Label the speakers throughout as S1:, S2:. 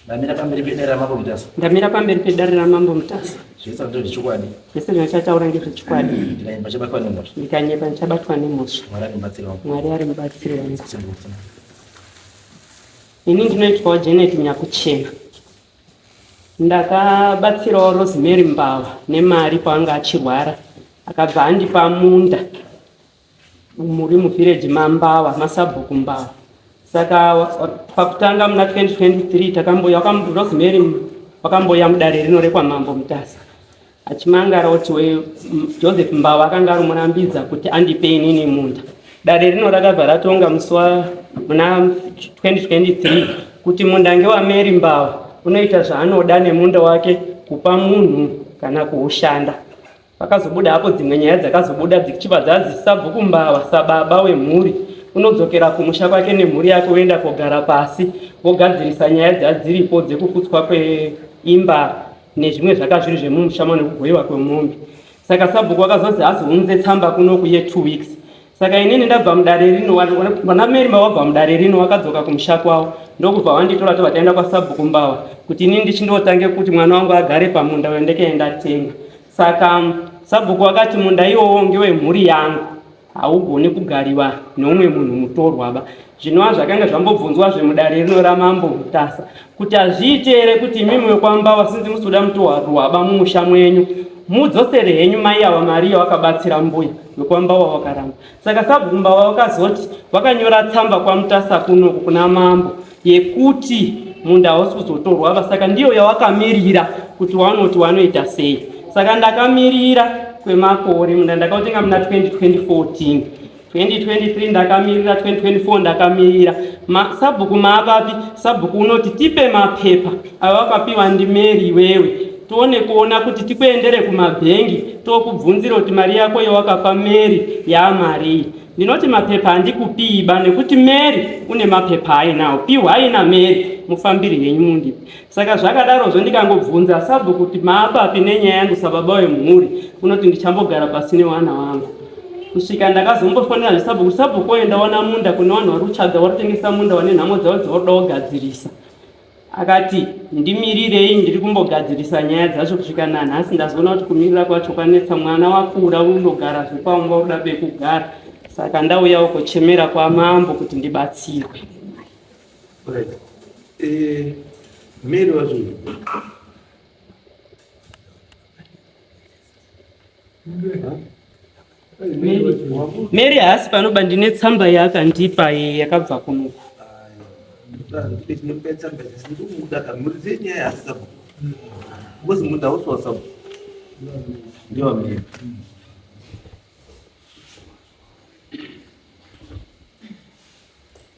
S1: ndamira pamberi pedare ramambo mutasa ndamira pamberi pedare
S2: ramambo mutasa zvese zvinotaura zvechokwadi
S1: zvese zvinochataura
S2: ngezvechokwadi ndikanyepa chabatwa
S1: nemhosva ndikanyepa ndichabatwa
S2: nemhosva mwari
S1: ari mubatsiri wangu
S2: mwari ari mubatsiri wangu ini ndinoitwawo janet nyakuchena ndakabatsirawo rosemary mbava nemari paanga achirwara akabva andipa munda muri muvhireji mambawa masabhuku mbawa saka pakutanga muna 2023 takamboya wakamurozimeri wakamboya mudare rino rekwamambo mutasa achimangara kuti we joseph mbawa akanga arimurambidza kuti andipe inini munda dare rino rakabva ratonga musi wa muna 2023 kuti munda ngewameri mbawa unoita zvaanoda nemunda wake kupa munhu kana kuushanda Pakazobuda hapo dzimwe nyaya dzakazobuda dzichiva dzanzi sabhuku mbava sababa wemhuri unodzokera kumusha kwake nemhuri yake woenda kogara pasi vogadzirisa nyaya dzadziripo dzekukutswa kweimba nezvimwe zvakazviri zvemumusha mane kugoiwa kwemombe saka sabhuku wakazozi azounze tsamba kunoku ye two weeks Saka inini ndabva mudare rino, vana Mary mavabva mudare rino wakadzoka kumusha kwavo ndokubva wanditora tobva taenda kwasabhuku Mbawa kuti inini ndichindotange kuti mwana wangu agare pamunda uyo ndikaenda tenga. Saka um, sabhuku wakati munda iwowo ngewemhuri yangu haugoni kugariwa neumwe munhu mutorwa ba Zvinova zvakanga zvambobvunzwazve mudare rino ramambo Mutasa kuti hazviite here kuti imimi wekwambawa sinzi musuda mutohwaruhwaba mumusha mwenyu mudzosere henyu mai ava mari yawakabatsira mbuya wekwambawa wakaramba saka sabhuku mbawa wakazoti wakanyora tsamba kwamutasa kunoku kuna mambo yekuti munda hausi kuzotorwaba saka ndiyo yawakamirira kuti wanoti wanoita sei saka ndakamirira kwemakore munda ndakautenga muna 2014 2023 ndakamirira 2024 ndakamirira Ma, sabhuku maapapi sabhuku unoti tipe mapepa ava wakapiwa ndimeri iwewe tione kuona kuti tikuendere kumabhengi tokubvunzira kuti mari yako yewakapa meri yamarii ndinoti mapepa handikupiiba nekuti meri une mapepa ainawo piwa aina meri mufambiri henyu mundipi Saka zvakadarozvo ndikangobvunza sabhu kuti maapapi nenyaya yangu sababa wemhuri unoti ndichambogara pasi newana wangu kusvika ndakazombofonera zvisabhu kuti sabhu koenda wana munda kune vanhu vari kutsvaga vari kutengesa munda wane nhamo dzavo dzavari kuda kugadzirisa akati ndimirirei ndiri kumbogadzirisa nyaya dzacho kusvika nanhasi ndazoona kuti kumirira kwacho kwanetsa mwana wakura unogara zvekwamva uda pekugara saka ndauyawo kochemera kwamambo kuti ndibatsirwe
S3: Eh, mary wacho
S2: mary haasi panoba ndine tsamba yaakandipa eh, yakabva kunuku
S1: ndiwamiri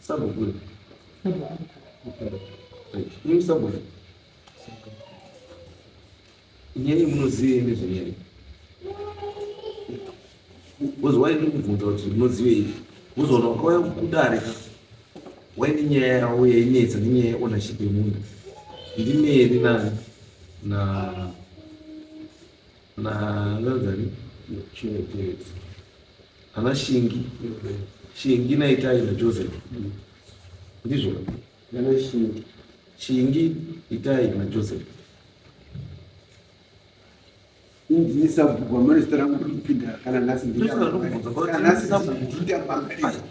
S1: Sabukuru. Ini sabukuru. Nyeri munozive nezvenyeri. Wozwa ini kubvunza kuti munozive ivi. Wozoona ukauya kudare ka. Waine nyaya yawo yainetsa nenyaya yeownership yemunhu. Ndimeri na na na ngazani. Chimwe chimwe. Ana Shingi, Shingi naItai naJoseph. Ndizvo. Ana Shingi. Shingi, Itai naJoseph.
S4: Ndini sabhuku amane zita rangu kuti kupinda kana nhasi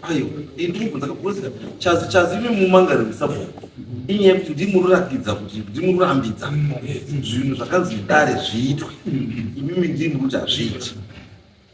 S1: ayo ndikubvunza kakurisika chazi chazi imi mumangariro sabhuku inyaya yekuti ndimururakidza kuti ndimururambidza zvinhu zvakanzi dare zviitwe imimi ndimuri kuti hazviiti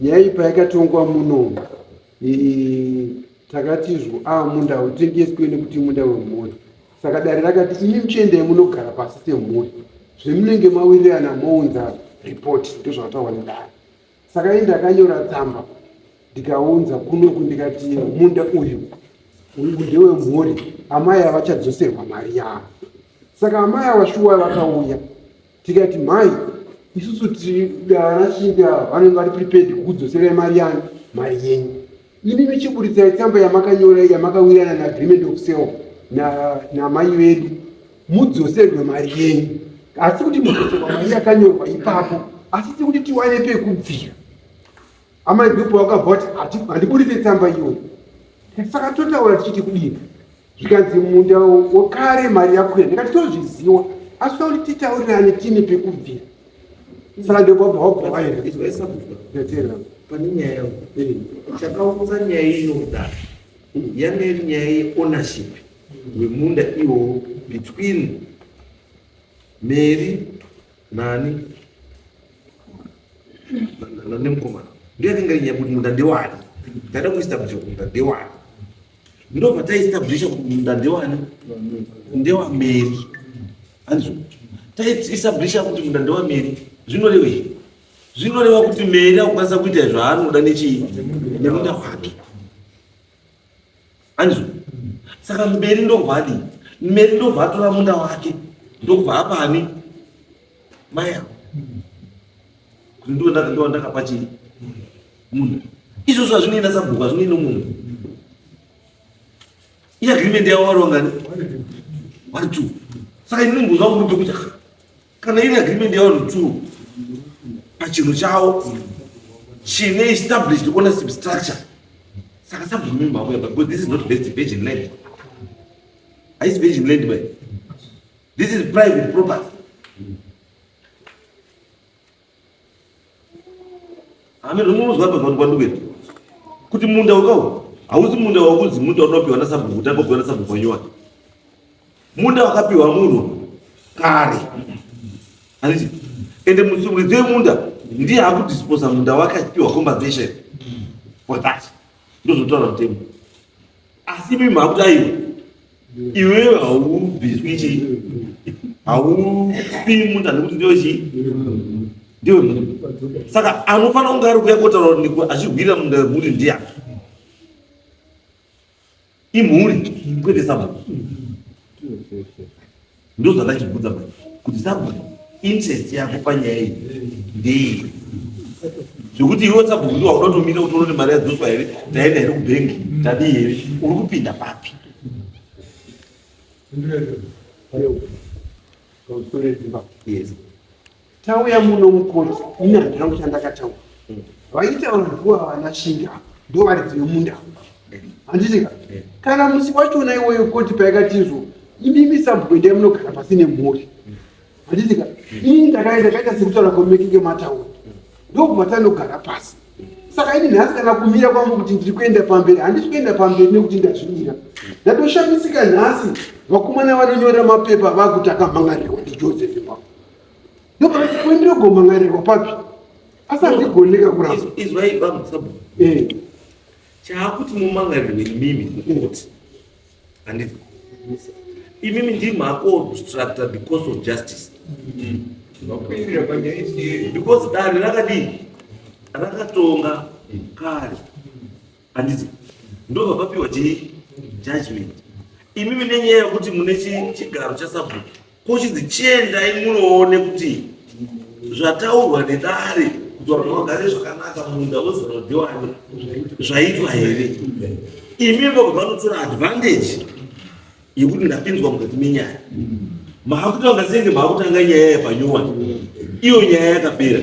S4: nyaya iyi payakatongwa muno takati izvo a ah, munda hautengeswe nekuti munda wemhuri saka dare rakati imi muchiendai munogara pasi semhuri zvemunenge mawirirana mounza ripoti ndozvakataurwa nedare saka ii ndakanyora tsamba ndikaunza kunoku ndikati munda uyu ndewemhuri amai avachadzoserwa mari yavo saka amai ava shuwa vakauya tikati mhai isusu tidanashinda vanenge vari prepared kukudzoserai mari yanyu mari yenyu imi michiburitsai tsamba yamakanyora yamakawirana naagreement of sale namai na vedu mudzoserwe mari yenyu asi kuti mudzoserwa mari yakanyorwa ipapo asi tikuti tiwane pekubvira Amai Dhupa wakabva vati handiburitse tsamba iyo. Saka totaura tichiti kudini? Zvikanzi munda wokare mari yako ya ndikati tozviziwa asi tauri titaurirane tine pekubvira. Saka ndokobva wabva waenda. Ndetera. Pane nyaya
S3: yangu. Eh. Chakaunza nyaya ino kudaro. Hmm. Yanga iri nyaya yeownership wemunda iwowo between Mary Nani? Nani mkomana? Ndiye anenge nyaya kuti munda ndewani? Ndada kuestablish kuti munda ndewani? Ndobva taestablish kuti munda ndewani? Ndewa Mary. Anzwa. Taestablish kuti munda ndewa Mary. Zvinorevei? Zvinoreva kuti Mary akukwanisa kuita zvaanoda nechii? Nemunda wake. anzvo saka mberi ndovadi mberi ndobva atora munda wake ndobva apani mai avo kuti ndiwo ndakapa chii munda izvozvo hazvinoenda sabhuku hazvinoenda munhu iagreement yavo vari wangani vari two saka ini ndimbozva kumuti kuti kana ine agreement yawo netsuro pachinhu chawo chine established ownership structure saka sabvumi mhamo yaba because this is not best virgin land haisi virgin land by this is private property Hameno munonzwa apa vanhu kwanduwe kuti munda wakawo hausi munda wakunzi munda unopiwa nasabhuku tanga kupiwa nasabhuku wanyowani munda wakapiwa munhu kare handiti ende musumuridzo yemunda ndiye akudisposa munda wake achipiwa compensation for that ndozvotaura mutemo asi imi makuti aiwa iwe haubviswi chii haufi munhu anokuti ndiwe chii ndiwe munhu saka anofanira kunge ari kuya kotaura niko achigwirira munhu mhuri ndiya imhuri kwete sabata ndozvandachibvunza manje kuti sabhuku interest yako panyaya iyi ndei zvekuti iwe sabhuku ndiwa unotomira kuti unoti mari yadzoswa here taenda here kubhengi tadii here uri kupinda papi
S4: Yes. Tauya muno mukoti, ini handina kuti andakataura. Mm. Vaitaura nguva vana shinga ndo varidzi vemunda. Mm. Handiti ka? Mm. Kana musi wachona iwoyo koti paikatizvo imimi sabwende munogara pasi nemhuri. Handiti ka? Ini ndakaenda kaita sekutaura kwamekenge mataura. Ndokubva tanogara pasi. Saka ini nhasi kana kumira kwangu kuti ndiri kuenda pamberi handisi kuenda pamberi nekuti ndazvimira. Ndatoshamisika nhasi vakomana vanonyora mapepa vakutaka mhangarirwa ndiJoseph Mbapo. ndokuendirogomangarirwa papi asi handigoneka kurasa izwai bamusabo
S3: eh. chaakuti mumangarirwe imimi kukoti handiti imimi ndimi akuobstructa because of justice because dani rakadii rakatonga kare handiti ndobva papiwa chii judgment imi mine nyaya yekuti mune chigaro chasabhuku kuchinzi chiendai munoone kuti zvataurwa nedare kuti vanhu vagare zvakanaka munda wezanodiwani zvaitwa here imi vobva vanotora advantage yekuti ndapinzwa mukati menyaya maakutanga senge maakutanga nyaya yepanyowani iyo nyaya yakapera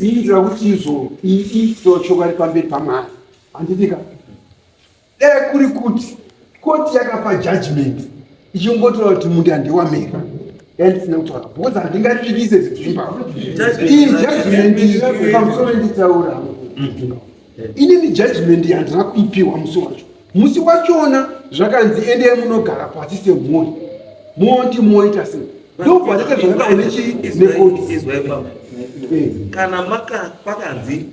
S4: iitira kuti izvo iitiro chokwadi pamberi pamwari handitika dai kuri kuti koti yakapa judgment ichingotora kuti mundi handiwamere yandisina kutaura because handingativise zidzimba ii judgment pamusoro nditaura inini judgment yandina kuipiwa musi wacho musi wachona zvakanzi endei munogara pasi semhuri moti moita sei ndobvaita zvakadaonechiekotiizwaibaba
S3: eh. kana pakanzi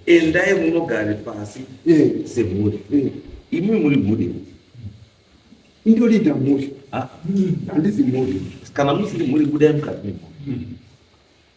S3: endai munogare pasi eh. semhuri eh. imi muri mhuri
S4: indorida mhuri handizi mhuri kana musiri mhuri
S3: budai mukati memhuri hmm.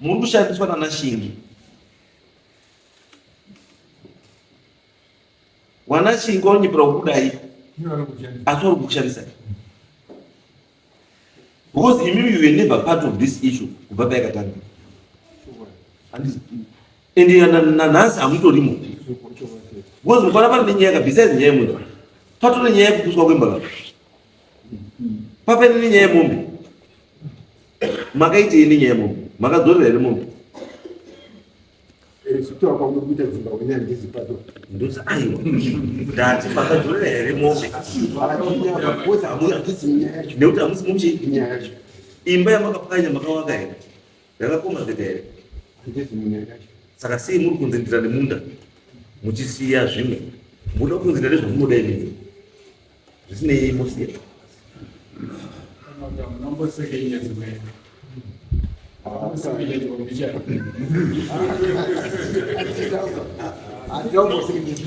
S3: Muri kushandiswa nana Shingi. Wana Shingi wanyipira kudai. Asi uri kushandisa. Because imimi you were never part of this issue kubva payakatanga. And nanhasi hamutorimo. Because mukwana pane nyaya besides nyaya imwe. Patone nyaya yekupuswa kwemba. Papeni nenyaya yemombe. Makaitei nenyaya yemombe? Makadzorera here mombe? Eh,
S4: Zvitaura kwamuri kuita dzimba hwenya ndizi pato. Ndoza aiwa.
S3: Ndati makadzorera here mombe? Kozi hamuna kudzidzi nyaya yacho. Nekuti hamusi mumchi Nyaya yacho.
S4: imba yamakapwanya
S3: makavaka here? Yakakoma zeta here? Ndizi nyaya yacho.
S4: Saka sei muri kunzi
S3: ndira nemunda muchisiya zvimwe? Muda kunzi ndira nezvamunoda imimi. Zvisinei mose.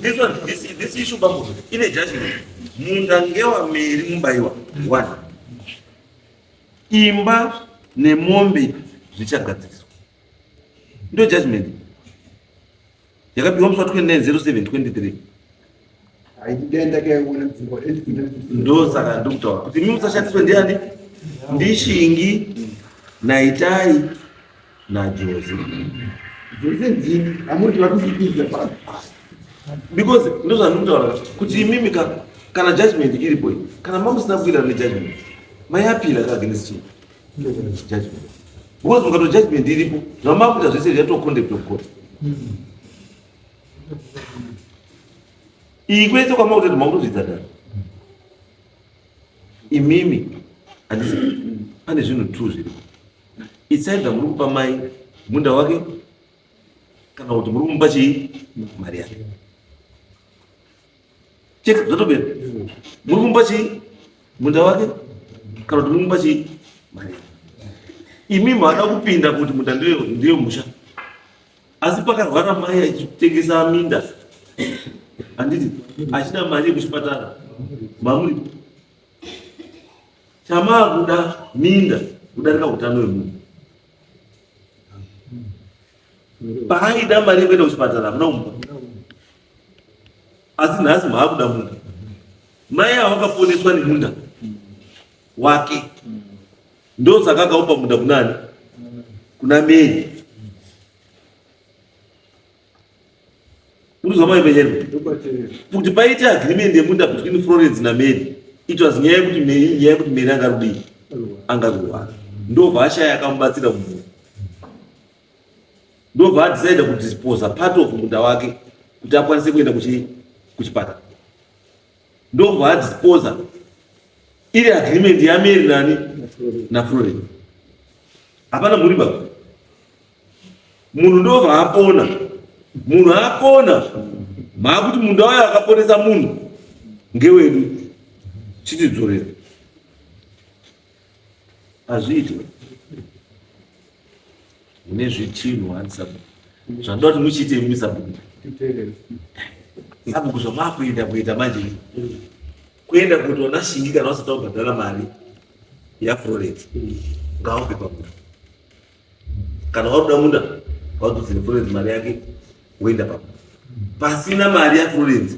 S3: This one, this, this issue bambo, ine judgment. Munda ngewa meri mubaiwa. One. Imba nemombe zvichagadziriswa. ndo judgment yakapiwa musi wa 290723
S4: ndosaka
S3: ndikutaura kuti imi musashandiswe ndiani ndishingi naitai najozi because ndozvandikutaura kuti imimi kana judgment iripo kana mamusina kuita nejudgment mayapira kaagnestii because mukato judgment iripo zvamakuita zvese zvaitwa conduct of court iyi kwese kwamakutoita makutozvidza dani imimi handisi pane zvinhu two zviripo itsaida muri kupa mai munda wake kana kuti muri kumupa chii mari yake chete zvatopera muri kumba chii munda wake kana kuti muri kumba chii mari imi maada kupinda kuti munda ndiyo ndiyo musha asi pakarwara mai achitengesa minda handiti achida mari yekuchipatara mamuri chamaa kuda minda kudarika utano wemunhu paaida mari yekuenda kuchipatara hamuna kumba asi nhasi maakuda munda mai ava vakaponeswa nemunda wake ndosaka akaupa munda kunani kuna meri urizwa mai penyerwa kuti paite agreement yemunda between florence nameri it was nyaya yekuti meri nyaya yekuti meri angarudii angaruwana ndobva ashaya akamubatsira mumwe ndobva adecide kudisposa part of munda wake kuti akwanise kuenda kuchipatara ndobva adisposa iri agreement yameri nani naflorin hapana mhuri baba munhu ndobva apona munhu apona maakuti munda wayo akaponesa munhu ngewedu chitidzorera hazviitwe mune zvitinhu ani sabhuku zvandoda kuti muchiite imimi sabhuku sabhuku zvamakuenda kuita manje kuenda kuti ona shingi kana vasati vabhadhara mari yafroret ngaope pakuda kana wakuda munda waudzire froret mari yake woenda pakuda pasina mari yafroret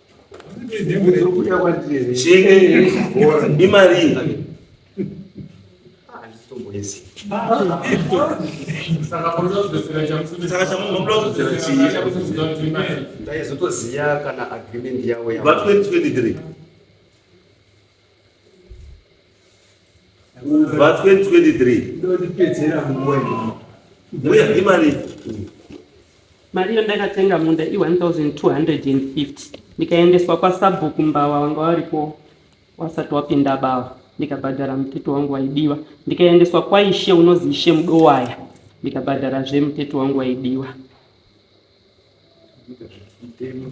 S3: imari ndaizotoziva
S5: kana agreement yavo va 2023
S3: Verse 23. Ndodipedzera
S4: mumwene. Mbuya
S3: imari.
S2: Mari iyo ndakatenga munda i 1250 ndikaendeswa kwasabhuku mbawa wanga waripo wasati wapinda bawa ndikabhadhara mutete wangu waidiwa ndikaendeswa kwaishe unozi ishe mudowaya ndikabhadhara zve mutete wangu waidiwa Thank you.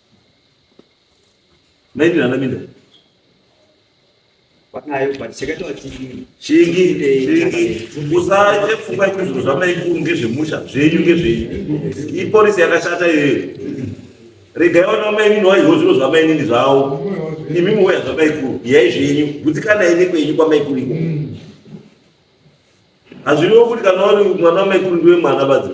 S3: Maybe nana minda.
S5: Wakayo but chakati wati chingi
S3: chingi usaje pfungwa kuti zvinhu zvamaikuru ngezvemusha zvenyu ngezvenyu. Ipolisi yakashata iyoyo. Regai vana vamainini waiziwo zviro zvamainini zvawo. Imi muwoya zvamaikuru yai zvenyu gutsikana ine kwenyu kwamaikuru iko. Hazviriwo kuti kana uri mwana wamaikuru ndiwe mwana badzi.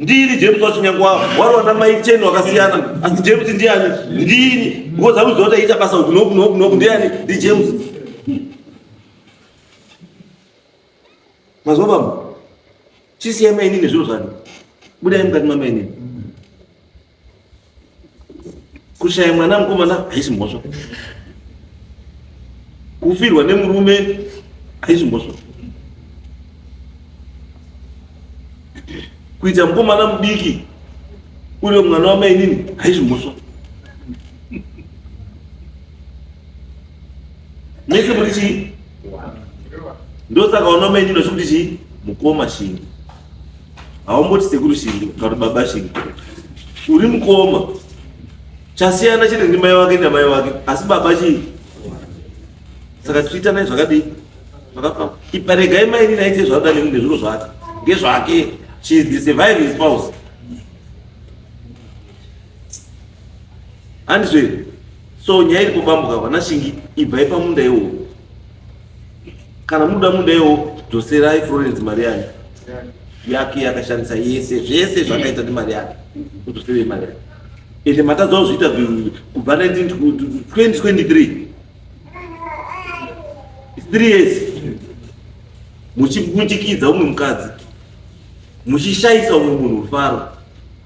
S3: ndini james wacho nyange wari wana mai cheni wakasiyana asi james ndiani ndini because akuziva kuti aita basa uku noku noku noku ndiani ndi james mazuva baba chisiyai mainini zviro zvani budai mukati mamainini kushaya mwana mukomana haisi mhosva kufirwa nemurume haisi mhosva kuita mukomana mudiki uri mwana wamainini haisi mhosva mese muri chii ndosaka wana mainini vachikuti chii mukoma chingi haumboti sekuru shingi kana baba shingi uri mukoma chasiyana chete ndi mai wake namai wake asi baba chii saka twitter nai zvakadii zvakafamba iparegai mai nini aite zvauda neni nezviro zvake ngezvake she is the surviving spouse handizve so nyaya iri kubambuka vana shingi ibvai pamunda iwowo kana muda mudewo dzoserai florence mari yake yake yakashandisa yese zvese zvakaita nemari yake kudzoserei mari yake ende matadzawo zviita kubva 2023 three years muchibutikidza umwe mukadzi muchishayisa umwe munhu rufaro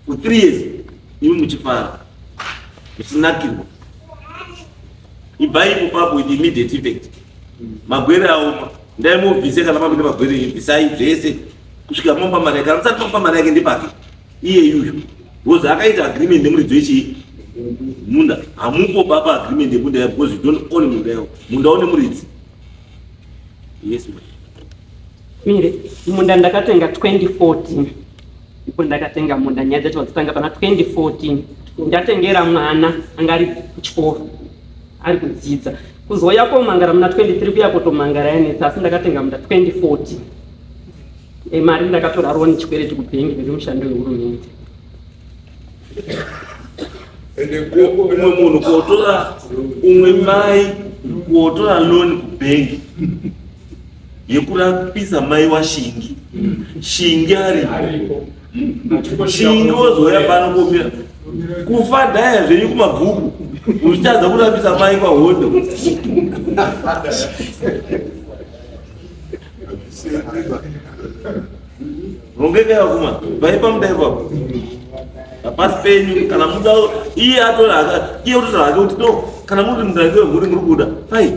S3: for three years imi muchifara muchinakirwa ibvai ipapo with immediate effect magwere aoma ndaimubvise kana makuita magwere ibvisai zvese kusvika mampa mari yake amusati mampa mari yake ndepake iye yuyu because akaita agreement nemuridzi wechii munda hamupo baba agreement yemunda yavo because you don't own munda yavo munda une muridzi yes mire
S2: munda ndakatenga 2014 ndipo ndakatenga munda nyaya dzacho vadzitanga pana 2014 ndatengera mwana anga ari kuchikoro ari kudzidza kuzouya komangara muna 23 kuya kotomangara yanetsa asi ndakatenga munda 2014 e, mari ndakatora roni chikwereti kubhengi riri mushando wehurumende
S3: ende umwe munhu kuotora umwe mai kuotora loni kubhengi yekurapisa mai washingi shingi ariko shingi wozouya pano komira kufa dhaya zvenyu kumabvuku uchitadza kurapisa mai kwahondo rongekaya kuma vaipa mudai kwapo hapasi penyu kana muda iye atora iye utotora hake kuti no kana muri mudai wemhuri muri kuda fine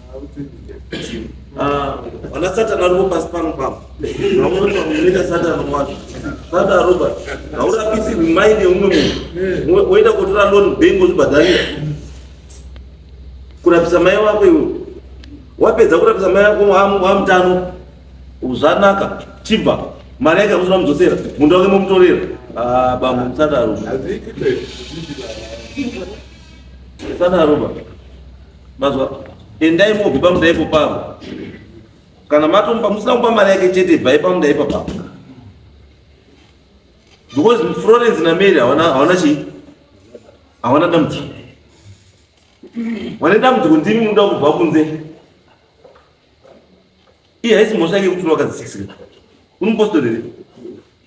S3: Ah, vana satani varipo pasi pano pano vamweunoita satani wacho sata robert haurapisirwi maini yeumwe munhu woenda kotora loni bank ozvibhadharira kurapisa mai wako iwe wapedza kurapisa mai wako wamutano zvanaka chibva mari yake amusina mudzosera munda wake momutorera ah, bambo musata robert musata robert Mazwa endai mobve pamuda ipo pavo. Kana matomba musina kupa mari yake chete bvai pamuda ipo pavo. Because Florence na Mary hawana hawana chi hawana dambudziko. Wane dambudziko ndimi munoda kubva kunze. Iye haisi mhosva yake kuti wakadzikisira. Unopostorere.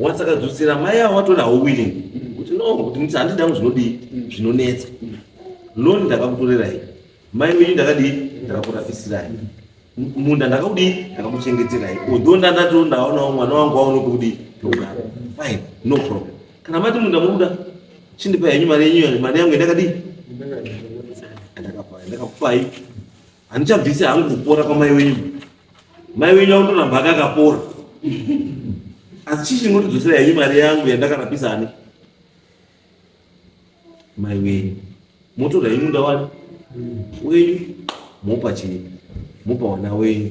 S3: once akadzotsera mai avo vatona hau willing kuti no kuti nditi handida kungu zvinodii zvinonetsa loni ndakakutorerai mai wenyu ndakadii ndakakurapisirayi munda ndakakudii ndakakuchengeterai odho ndandato ndaonawo mwana wangu waone pekudii pekugara fine no problem kana mati munda mukuda chindipa henyu mari yenyu mari yangu yandakadii ndakakupai Handichabvise hangu kupora kwamai wenyu. Mai wenyu akutoramba akakapora. Asi chii chinondidzosera henyu mari yangu yandakarapisa ani? Mai wenyu. Motora henyu munda wani? Wenyu. Mopa chii? Mopa wana wenyu.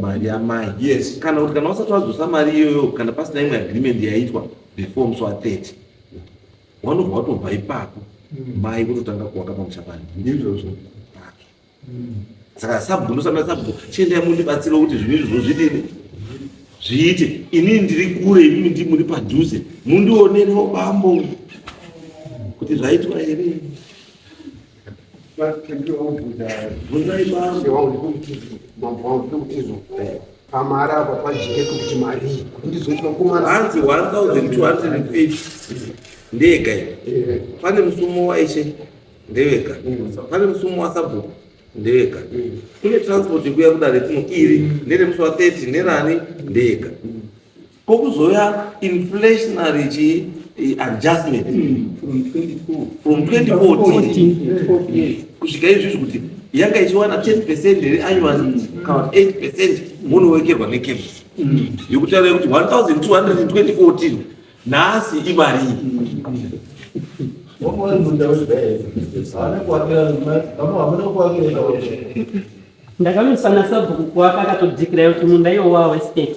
S3: mari yamai yes kana kuti kana usati wadzosa mari iyoyo kana pasina imwe agreement yaitwa before musi wa 30 wanobva watobva ipapo mm. mai kutotanga kuvaka pamusha pani ndizvozvo mm. saka sabhuku ndosana sabhuku chiendai mundibatsira kuti zvinhu izvi zvozvidini zviite inini ndiri kure imimi ndi muri padhuze mundionerewo bambo kuti zvaitwa here
S4: pamari apa pajike kuti marii kuti ndizoti vakomana hanzi 1250
S3: ndega eh. pane musumo waishe ndeveka mm. pane musumo wasabhuku ndega kune transport yekuya kudare kuno iri nderemusi wa 30 nerani ndega Ko kuzouya inflationary chi eh, adjustment hmm, from 24 from 2014 kusvika izvi izvi kuti yanga ichiwana 10 percent here annual kana 8 percent munowekerwa nekepu hmm. yokutaura kuti 1214 nhasi imari
S2: ndakamisana sabhuku kuwaka akatodhikira kuti munda iwo wawe state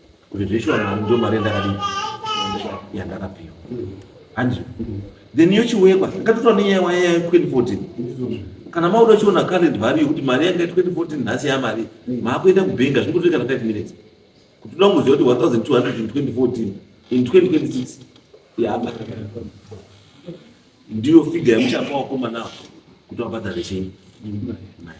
S3: kuti zveshoramari ndo mari yandakadii yandakapiwa hanzi then yochiwekwa ngatotora nenyaya waya ya 2014 kana mauda uchiona current value kuti mari yanga 2014 nhasi yamari maakuenda kubhenga zviri kutoita kana 5 minutes kuti uda kungoziva kuti 1200 in 2014 in 2026 yaba ndiyo figa yamuchapa wakomana kuti wabhadhare chenyi nayo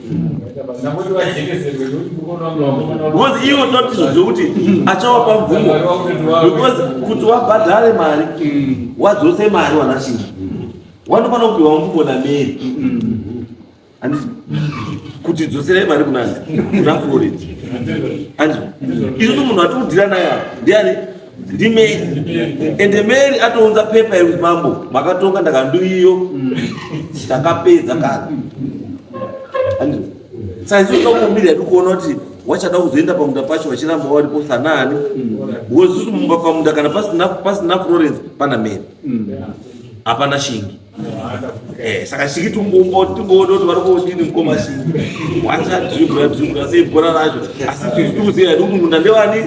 S3: because ivo totizo zvekuti achawapa mvumo because kuti wabhadhare mari wadzose mari wanashinga wanofanira kupiwa mvumo nameri kuti dzoserai mari kunani kuna florent anzwa isu munhu atiudira naye ndiani ndimeri ende meri atounza pepa yekuti mambo makatonga ndakanduiyo mm. takapedza kana saizokakumbira yati kuona kuti wachada kuzoenda pamunda pacho vachiramba varipo sanani wozuzumumba pamunda kana pasina florence pana meri hapana shingi Eh, saka chiki tingoodoti vari kuodini mukoma chii wachadzvigura dzvigura sei bhora racho asi tisu tikuziva hedu munda ndevani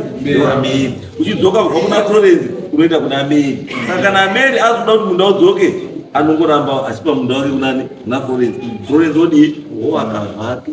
S3: ameri uchidzoka kubva kuna florence unoenda kuna ameri saka kana ameri azoda kuti munda udzoke anongoramba achipa munda wake kunani kuna florence florence odii oakavake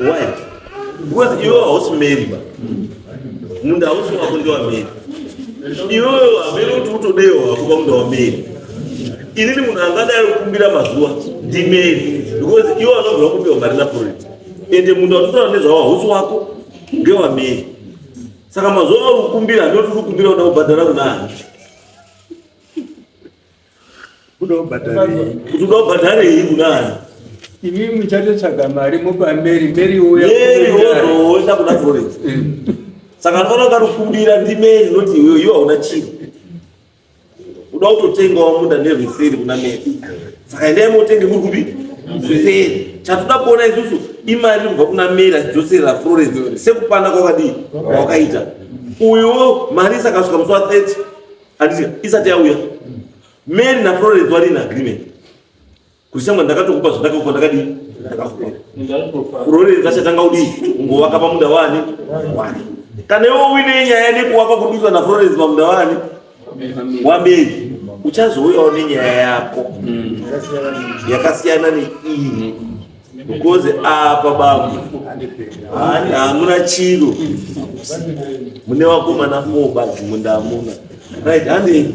S3: why because iwe hausi mary ba munda hausi wako ndewamary iwewe hamene kuti utodewo hako pamunda wamary inini munhu angadai kukumbira mazuva ndimary because iwe anobva kupiwa mari naforeti ende munda watotaura nezvawo hausi wako ndewamary saka mazuva auri kukumbira handinoti uri kukumbira kuda kubhadhara kuna hanzi kudobhadharei kudai imi
S6: muchatotsvaga mari mopa meri meri uyaoenda
S3: kuda forex saka ndinoona karikubira ndimeri noti iwewe iwe hauna chiro uda kutotengawo munda nerweseri kuna meri saka endai motenge muri kupi zviseri chatoda kuona isusu imari iri kubva kuna meri achidzoserera florence sekupanda kwakadii kwakaita uyo mari isakasvika musi wa 30 andizika isati yauya mary naflorence vari in agreement kuti shamwa ndakatokupa zvandakakupa ndakadii ndakakupa florence achatanga kudii kungovaka pamunda wani wani kana iwe uine nyaya nekuwaka kududzwa naflorence pamunda wani wameri uchazouyawo nenyaya yako yakasiyana neiyi Mukoze apa babu hamuna chiro mune vakomana four badzi munda hamuna right handi